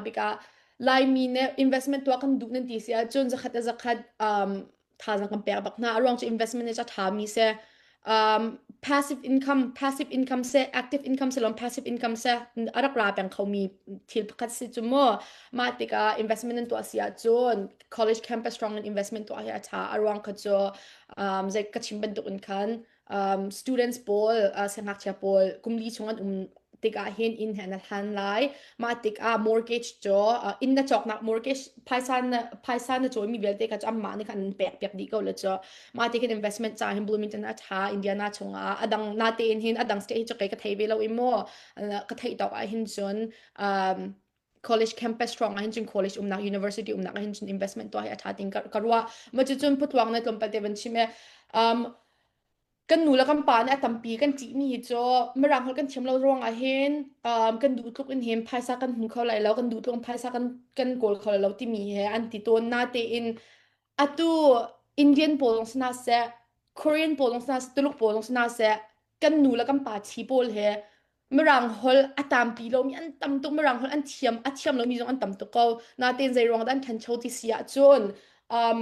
tikah Laimi nih investment tuah kan duh nan ti si ahcun zakhat le zakhat um, thazang kan pek bak hna a ruang cu investment nih a ṭhami si um, passive income passive income se active income se lom passive income se a rak ra peng khomi thil pakhat si cu mu mah tikah investment nan tuah si ahcun college campus rang in investment tuah hi a ṭha a ruang kha cu um, zei ka chim bantuk in khan um, students pawl uh, siangngakchia pawl kumli chung an um tikah hin inn he na hlan lai mah tikah mortgage cu uh, inn na cawknak mortgage phaisa na phaisa na cawimi vialte ka cu amah nih khan an pek piak dih ko le cu mah ti khin investment ca hin Bloomington a tha Indiana chungah adang nate in hin adang state hi cu kai ka thei ve lo i mo ka theih tawk ah hin cun um, college campus rawng ah hin cun college umnak university umnak ah hin cun investment tuah hi a tha ting ka ruah ma cu cun putuang na tlawmpal te van chim e um kan nu le kan pa nih a tampi kan ṭih mi hi cu mirang holh kan thiam lo ruang ah hin um kan duh tluk in hin phaisa kan hmu kho lai lo kan duh tluk in phaisa kan kan kawl kho lai lo timi he an ti tawn na tein Atu Indian pawl lawng si hna seh, Korean pawl lawng si hna seh, Tuluk pawl lawng si hna seh, kan nu le kan pa thi pawl he Mirang holh a tampi lomi an tam tuk, Mirang holh an thiam a thiam lomi zong an tam tuk ko. Natein zei ruang dah an ṭhancho ti si ahcun, um,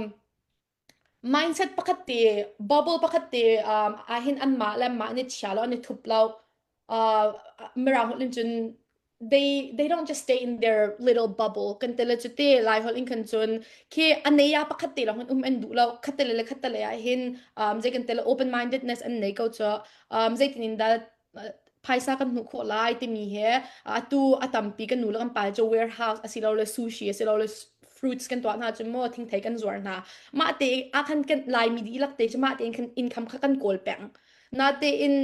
mindset pakhat te, bubble pakhat te um, ahhin anmah le anmah an i chia lo, an i thup lo. uh, Mirang holh in cun they they don't just stay in their little bubble kan tele chu te lai holh in kan cun khi aneya pakhat te long um en du lo khatele le khatele ah hin um je kan tele open mindedness an nei ko cho um je tin in da phaisa kan hnu kho lai timi he atu atampi kan nu lang pal cho warehouse asilo le sushi asilo le fruits kan tua hna chu mo thing thei kan zuar hna ma te a khan kan lai mi di lak te chu ma te in income kha kan kawl peng na te in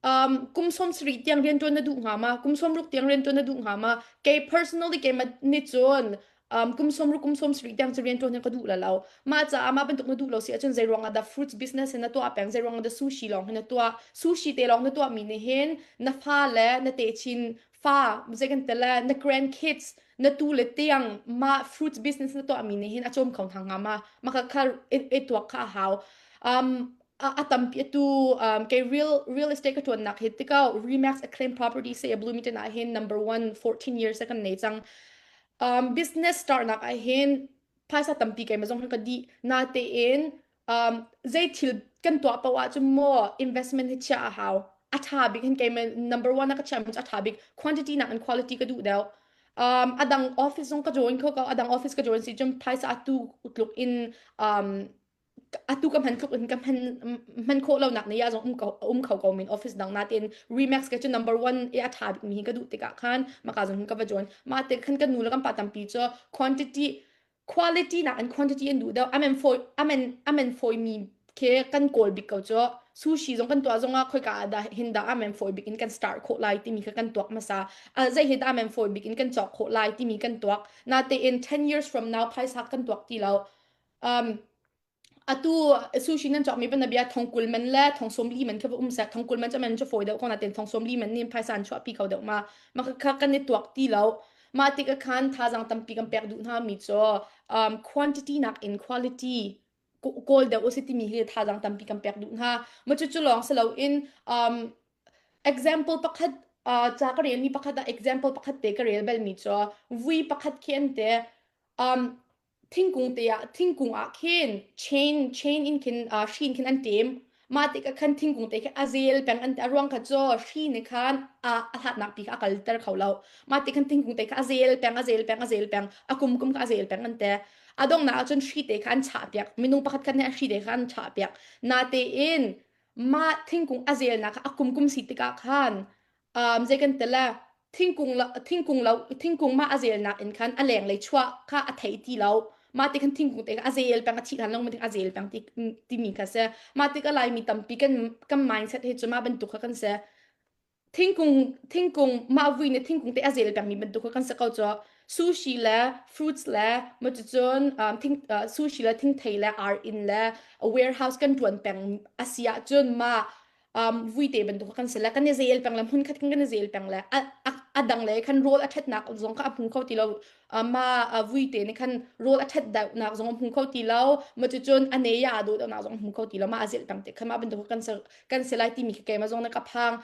Um, kum sawm sarih tiang rianṭuan na duh hnga ma? Kum sawmruk tiang rianṭuan na duh hnga ma? Kei personally kei ma nih cun, um, kum sawmruk, kum sawmsarih tiang cu rianṭuan hi ka duh la lo. Mah caah mah bantuk na duh lo si ahcun zei ruangah dah fruits business hi na tuah peng, zei ruangah dah sushi lawng hi na tuah, sushi te lawng na tuahmi nih hin na fa le na techin fa, zei kan ti le, na grandkids, na tu le tiang mah fruits business na tuahmi nih hin a cawm kho hna hnga ma? Maka kha i i tuak kha a hau. Um, a, a tampi tu um, kay real real estate ka tuan nak hi tikau Remax acclaimed property se blumi te na hin number 1 14 years se kan nei chang um, business start nak ai hin phaisa tampi kai mazong ka di na te in um, zei thil kan tua pawa chu mo investment hi chia a hau atha big hin kai number 1 na ka cham atha big quantity nak and quality ka du deu um, adang office song ka join kho ka adang office ka join si chum phaisa atu utluk in um, atu ka hman tluk in ka hman hman khawh lo nak ne ya zong um ko um kho ko min office dang na tin Remax ke chu number 1 e a tha bik mi hi ka du tikah khan maka zong ka va join ma te khan kan nu la kan pa tampi cho quantity quality na an quantity an du do amen foi amen amen foi mi ke kan kol bik ko cho sushi zong kan tua zong a khoi ka da hinda amen foi bik in kan start kho lai ti mi ka kan tuak masa zai hi da amen foi bik in kan chok kho lai ti mi kan tuak na te in 10 years from now phaisa kan tuak ti lo um atu sushing nan chokmi ban bia thong kul man le thong som li man kha um sa thong kul man chaman chu foi deuh kona ten thong som li man nin phaisan chuah pi ko deuh ma ma kha kan ni tuak ti lo ma tik a khan thazang tampi kan pek du na mi cho um quantity nak in quality goal deuh usi ti mi hi thazang tampi kan pek du na ma chu chu long se lo in um example pakhat uh, cha ka rel mi pakhat a example pakhat te ka rel bel mi cho vui pakhat khen te um thingkung te ah thingkung ah khin chain chain in khin uh, hri in khin an tim mah te ka khan thingkung te khe a zel peng an te aruang kha cho hri ne khan a ahlatnak pi kha akalter kho lo ma te khan thingkung te kha a zel peng a zel peng a zel peng a kum kum kha a zel peng an te adong na ahcun hri te khan cha piak minung pakhat khan hri te khan cha piak na te in ma thingkung a zel na kha a kum kum si tikah khan um, zei kan tela thingkung lo thingkung lo thingkung ma azel nak in khan a leng lei chua kha a thei ti lo ma ti kan thingkung te azel pang a thi lan long ma ti azel pang ti ti mi kha se ma ti ka lai mi tampi kan kan mindset he chuma bantuk kha kan se thingkung thingkung ma vui ne thingkung te azel pang mi bantuk kha kan se ko cho sushi le fruits le ma chu chun um, thing uh, sushi le thingthei le are in le a warehouse kan tuan peng asia chun ma um, vuite bantuk kan se le kan i zel peng le hun khat kan kan i zel peng le a dang le khan rol a that nak zong ka apu kho ti lo ma vuite ne khan rol a that da nak zong apu kho ti lo ma chu chun ane ya do do nak zong apu kho ti lo ma a zel peng te khan ma bantuk kan se kan se lai ti mi ke ma zong na ka phang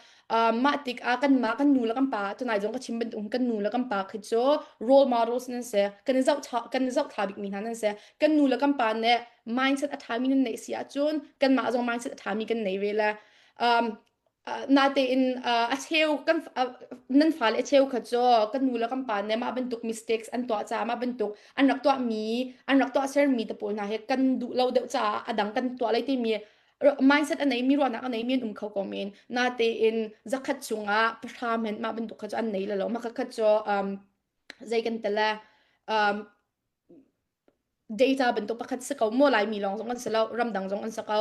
ma tik a kan ma kan nu la kan pa tu nai zong ka chim ban tung kan nu la kan pa khi chu role models nan se kan zau kan zau tha bik mi nan se kan nu le kan pa nih mindset a ṭhami nan neih si ahcun kanmah zong mindset a ṭhami kan nei ve le um, uh, natein uh, a cheu kan uh, nan fale a cheu kha cu kan nu le kan pa nih mah bantuk mistakes an tuah caah mah bantuk an rak tuahmi an rak tuah sermi te pawl hna he kan duh lo deuh caah a dang kan tuah lai timi mindset a neimi ruahnak a neimi an um kho ko men natein zakhat chungah pahra men mah bantuk kha cu an nei lo mah kakhat cu um, zei kan tala um, data bantuk pakhat si ko maw laimi lawng zong an si lo ramdang zong an si ko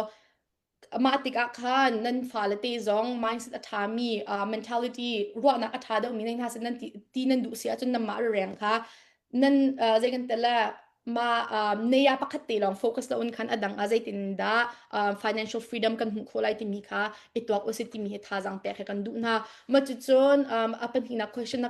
mah tikah khan nan fale te zong mindset a ṭhami uh, mentality ruahnak a ṭha deuhmi nan hna sin nan ti, ti nan duh si ahcun nan mah reng kha nan uh, zei kan tala ma uh, neya pakhat te long focus lo un khan adang a zeitin da uh, financial freedom kan hmu kho lai timi kha i tuak usi timi hi thazang te kha kan duh na ma chu chun um, a panhina question na